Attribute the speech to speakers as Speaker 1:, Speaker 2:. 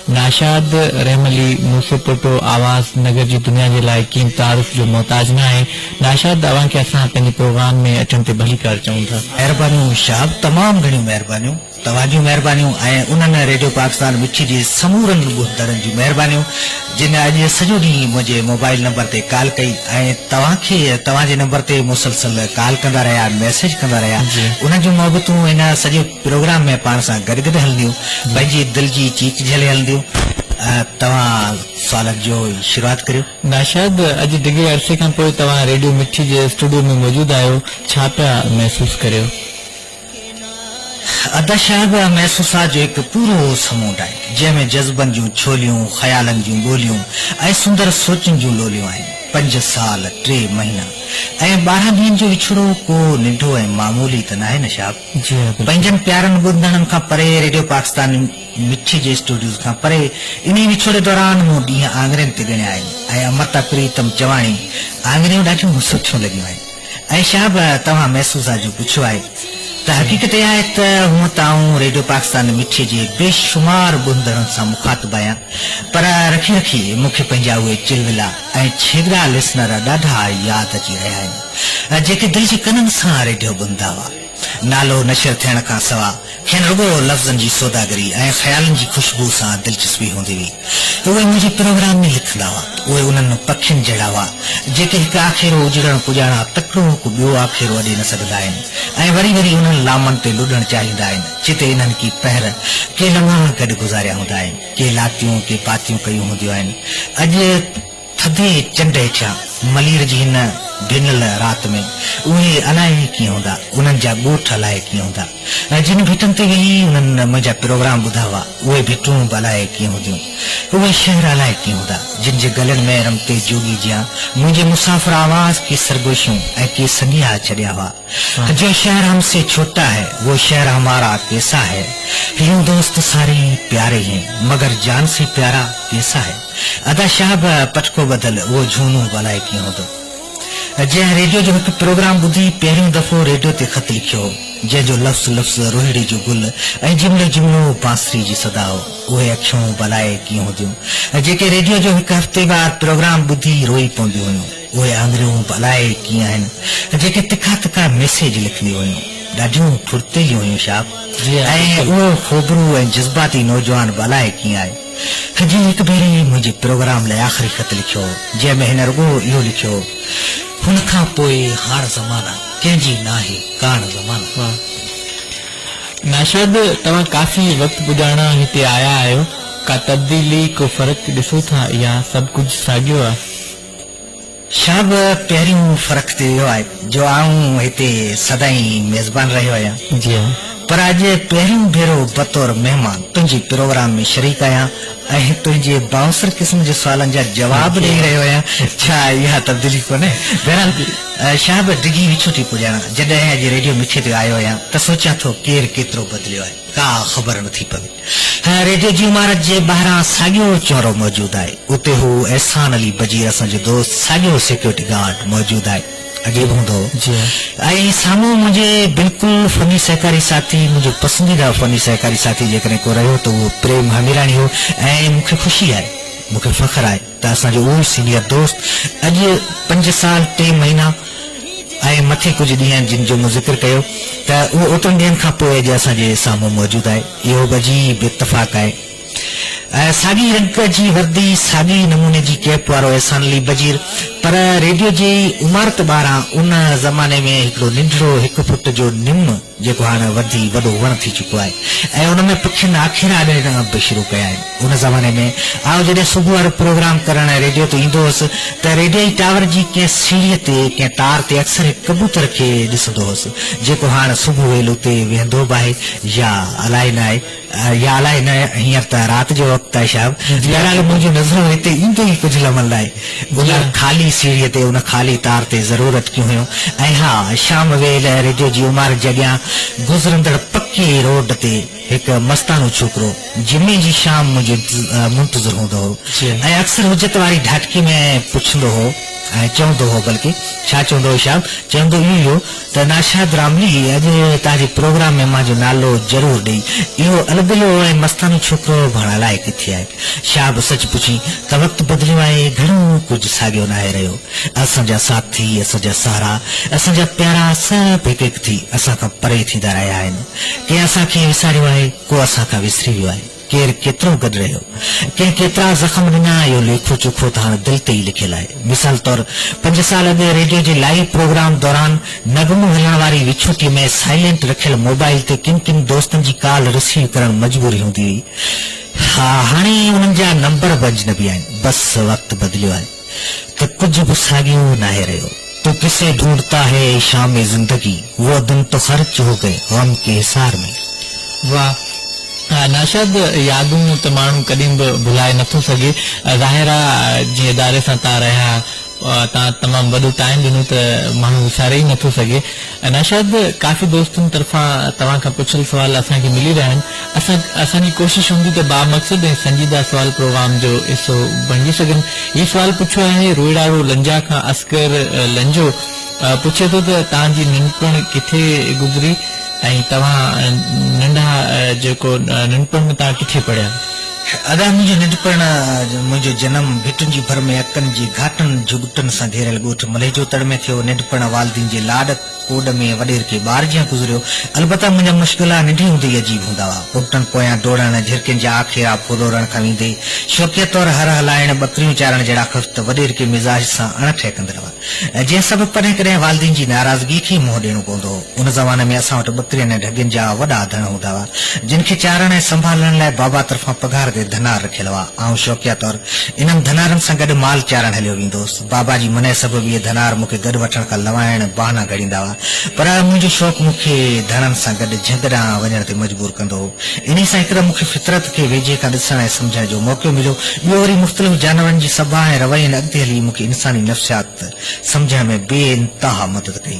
Speaker 1: ناشاد رحم علي موسي پوٽو آواز نگر جي دنيا جي لاء ڪين تعارف جو محتاج ناهي ناشاد اوهان کي اسان پنهنجي پروگرام ۾ اچڻ تي ڀليڪار چئون ٿا. مهربانيون شهاب
Speaker 2: تمام گهڻيون مهربانيون توهان جون مهربانيون ۽ انهن ريڊيو پاڪستان مٺي جي سمورن ٻڌندڙن جون مهربانيون جن اڄ سڄو ڏينهن منهنجي موبائل نمبر تي ڪال ڪئي ۽ توهان کي توهان جي نمبر تي مسلسل ڪال ڪندا رهيا ميسيج ڪندا رهيا انهن جون محبتون هن سڄي پروگرام ۾ پاڻ سان گڏ گڏ هلنديون پنهنجي دل جي چيچ جهلي هلنديون توهان سوالن جو شروعات ڪريو. ناشاد اڄ
Speaker 1: ڊگهي عرصي کان پوء توهان ريڊيو مٺي جي اسٽوڊيو ۾ موجود آهيو ڇا پيا محسوس ڪريو؟
Speaker 2: ادا صاحب محسوسات جو هڪ پورو سمونڊ آهي جنهن ۾ جذبن جون ڇوليون خيالن جون ڳوليون ۽ سندر سوچن جون لوليون آهن پنج سال ٽي مهينا ۽ ٻارهن ڏينهن جو وڇوڙو ڪو ننڍو ۽ معمولي ته ناهي نه صاحب. پنهنجن پيارن ٻڌندڙن کان پري ريڊيو پاڪستان مٺي جي اسٽوڊيوز کان پري انهي وڇوڙي دوران مون ڏينهن آڱرين تي ڳڻيا آهن ۽ امرتا پريتم چواڻي آڱريون ڏاڍيون مصو ٿيون لڳيون آهن ۽ شهاب توهان محسوس آجو پڇيو آهي ته حقيقت اها آهي ته هونء ته آئون ريڊيو پاڪستان مٺي جي بي شمار ٻڌندڙن سان مخاطب آهيان پر رکي رکي مون کي پنهنجا اهي چلولا ۽ ڇيڳڙا لسنر ڏاڍا ياد اچي رهيا آهن. ۽ جيڪي دل جي ڪنن سان ريڊيو ٻڌندا هئا. نالو نشر ٿيڻ کان سوا کين رڳو لفظن جي سوداگري ۽ خيالن جي خوشبوء سان دلچسپي هوندي هئي. اهي منهنجي پروگرام ۾ لکندا هئا. اهي انهن پکين جهڙا هئا، جيڪي هڪ آکيرو اجڙڻ پڄاڻان تڪڙو هڪ ٻيو آکيرو اڏي نه سگهندا آهن ۽ وري وري انهن لامن تي لڏڻ چاهيندا آهن، جتي انهن ڪي پهر، ڪي لمحا گڏ گذاريا هوندا آهن، ڪي لاتيون، ڪي پاتيون ڪيون هونديون آهن. اڄ. ٿڌي چنڊ هيٺيان ملير جي هن ڊينل رات ۾ اهي الائي ڪيئن هوندا، انهن جا ڳوٺ الائي ڪيئن هوندا ۽ جن ڀٽن تي ويهي انهن منهنجا پروگرام ٻڌا هئا، اهي ڀٽون به الائي ڪيئن هونديون. اهي شهر الائي ڪيئن هوندا، جن جي گلن ۾ رمتي جوڳي جيان منهنجي مسافر آواز ڪي سرگوشيون ۽ ڪي سنيها ڇڏيا هئا، جو شهر هم سي ڇوٽا هي، وو شهر همارا ڪيسا هي، هيون دوست ساري هي پياري هين، مگر جان سي پيارا ڪيسا هي. ادا شاهه به پٽڪو ٻڌل اهو جهونو به الائي ڪيئن هوندو جنهن ريڊيو جو هڪ پروگرام ٻڌي پهريون دفعو ريڊيو تي خط لکيو هو جنهن جو لفظ لفظ روهيڙي جو گل ۽ جملو جملو بانسري جي صدا هو اهي اکيون به الائي ڪيئن هونديون جيڪي ريڊيو جو هڪ هفتي وار پروگرام ٻڌي روئي پونديون هيون اهي آڱريون به الائي ڪيئن آهن جيڪي تکا تکا ميسيج لکنديون هيون ڏاڍيون ڦڙتيليون هيون شاهه ۽ اهو خوبرو ۽ جذباتي نوجوان به الائي ڪيئن آهي. هجي هڪ ڀيري منهنجي پروگرام لاء آخري خط لکيو جنهن ۾ هن رڳو اهو لکيو هن کان پوء هاڻ زمانه ڪنهن جي ناهي ڪاڻ زمانه. واه ناشد
Speaker 1: توهان ڪافي وقت پڄاڻان هتي آيا آهيو ڪا تبديلي ڪو فرق ڏسو ٿا يا سڀ ڪجهه ساڳيو آ.
Speaker 2: شاهه به پهريون فرق تي ويو آهي جو آئون هتي سدائين ميزبان رهيو آهيان پر اڄ
Speaker 1: پهريون
Speaker 2: ڀيرو بطور مهمان تنهنجي پروگرام ۾ شريڪ آهيان ۽ تنهنجي بائونسر قسم جي سوالن جا جواب ڏئي رهيو آهيان ڇا اها تبديلي ڪونهي؟ بهرحال شاهه به ڊگهي وڇون ٿي پڄاڻان جڏهن اڄ ريڊيو مٺي تي آيو آهيان ته سوچيان ٿو ڪير ڪيترو بدليو آهي ڪا خبر نٿي پوي. هن ريڊيو جي عمارت جي ٻاهران ساڳيو چؤرو موجود آهي. اتي هو احسان علي بجير اسان جو دوست ساڳيو سيڪيورٽي گارڊ موجود آهي. عجيب هوندو هو. جي ها. ۽ سامهون منهنجي بلڪل فني سهڪاري ساٿي منهنجو پسنديده فني سهڪاري ساٿي جيڪڏهن ڪو رهيو ته اهو پريم هاميراڻي هو ۽ مون کي خوشي آهي. مون کي فخر آهي. ته اسان جو اهوئي سينيئر دوست اڄ پنج سال ٽي مهينا ۽ مٿي ڪجهه ڏينهن جن جو مون ذڪر ڪيو ته اهو اوترن ڏينهن کان پوء اڄ اسان جي سامهون موجود آهي اهو به عجيب اتفاق آهي ساڳي رنگ جي وردي ساڳي ئي نموني جي ڪيپ وارو احسان علي بجير پر ريڊيو جي عمارت ٻاهران ان زماني ۾ هڪڙو ننڍڙو هڪ فٽ جو نم جيڪو هاڻ وڌي وڏو وڻ ٿي چڪو آهي ۽ ان ۾ پکين آکيرا اڏيڻ به شروع ڪيا آهن. ان زماني ۾ آئون جڏهن صبح وارو پروگرام ڪرڻ ريڊيو تي ايندو هوس ته ريڊيوئي ٽاور جي ڪنهن سيڙهيء تي ڪنهن تار تي اڪثر هڪ ڪبوتر کي ڏسندو هوس، جيڪو هاڻ صبح ويل اتي ويهندو به آهي يا الائي ناهي. يا الائي نه هينئر ته رات جو وقت آهي شاهب. بهرحال منهنجون نظرون هتي ايندي ئي ڪجهه لمحن لاء ان خالي سيڙهيء تي ان خالي تار تي ضرور اٽڪيون هيون ۽ ها شام ويل ريڊيو جي عمارت جي اڳيان گذرندڙ پڪي روڊ تي هڪ مستاڻو ڇوڪرو جمعي جي شام منهنجو منتظر هوندو هو ۽ اڪثر حجت واري ڍاٽڪي ۾ پڇندو هو ۽ چوندو هو بلڪه ڇا چوندو هو شاهب؟ چوندو اهو ئي هو ته ناشاد راملي اڄ هتان جي پروگرام ۾ مانجو نالو ضرور ڏئي. اهو البلو ۽ مستانو ڇوڪرو ڀاڻ الائي ڪٿي آهي. شهاب سچ پڇين ته وقت بدليو آهي گهڻو ڪجهه ساڳيو ناهي رهيو. اسان جا ساٿي، اسان جا سهارا، اسان جا پيارا سڀ هڪ هڪ ٿي اسان کان پري ٿيندا رهيا آهن. ڪنهن اسان کي وساريو آهي، ڪو اسان کان وسري ويو آهي. ڪير ڪيترو گڏ رهيو، ڪنهن ڪيترا زخم ڏنا، اهو ليکو چوکو ته هاڻ دل تي ئي لکيل آهي. مثال طور پنج سال اڳ ريڊيو جي لائيو پروگرام دوران نغمو هلڻ واري وڇوٽي ۾ سائلينٽ رکيل موبائيل تي ڪن ڪن دوستن جي ڪال رسيو ڪرڻ مجبوري هوندي هئي. ها هاڻي انهن جا نمبر به اجنبي آهن. بس وقت بدليو آهي. ته ڪجهه به ساڳيو ناهي رهيو. تو ڪسي ڍونڍتا هي اي شام زندگي، وو دن تو خرچ هو گئي غم ڪي حصار ۾. واھ
Speaker 1: ناشاد يادون ته ماڻهو ڪڏهن به ڀلائي نٿو سگهي ظاهر آ جنهن اداري سان تان رهيا تان تمام وڏو ٽائيم ڏنو ته ماڻهو وساري ئي نٿو سگهي. نوشاد، ڪافي دوستن طرفان توهان کان پڇيل سوال اسان کي ملي رهيا آهن، اسان اسان جي ڪوشش هوندي ته بامقصد ۽ سنجيده سوال پروگرام جو حصو بڻجي سگهن. هي سوال پڇيو آهي روئڙاڙو لنجا کان اصغر لنجو پڇي ٿو ته توهان جي ننڍپڻ ڪٿي گذري ۽ توهان ننڍا جيڪو ننڍپڻ ۾ توهان ڪٿي پڙهيا؟ ادا منهنجي
Speaker 2: ننڍپڻ منهنجو جنم ڀٽن جي ڀر ۾ اڪن جي گهاٽن جهڳٽن سان گهيريل ڳوٺ ملهيجو تڙ ۾ ٿيو ننڍپڻ والدين جي لاڏ ڪوڏ ۾ وڏير کي ٻار جيان گذريو البته منهنجا مشغلا ننڍي هوندي ئي عجيب هوندا هئا پوپٽن پويان ڊوڙڻ جهرڪين جا آکيرا ڦولورڻ کان ويندي شوقيه طور هر هلائڻ ٻڪريون چارڻ جهڙا خفت وڏير کي مزاج سان اڻ ٺهڪندڙ ۽ جنهن سبب ڪڏهن ڪڏهن والدين جي ناراضگي کي ئي منهن ڏيڻو پوندو هو. ان زماني ۾ اسان وٽ ٻڪرين ۽ ڍڳين جا وڏا اڌڻ هوندا هئا، جن کي چارڻ ۽ سنڀالڻ لاء بابا طرفان پگهار تي ڌنار رکيل هئا. آئون شوقيه طور انهن ڌنارن سان گڏ مال چارڻ هليو ويندو هوس. بابا جي منع سبب اهي ڌنار مون کي گڏ وٺڻ کان لنوائڻ بهانا گهڙيندا هئا، پر منهنجو شوق مون کي ڌڻن سان گڏ جهنگ ڏانهن وڃڻ تي مجبور ڪندو هو. انهي سان هڪ ته مون کي فطرت کي ويجهي کان ڏسڻ ۽ سمجهڻ جو موقعو مليو، ٻيو وري مختلف جانورن جي سڀاء ۽ روين اڳتي هلي مون کي انساني نفسيات سمجهڻ ۾ بي انتها مدد ڪئي.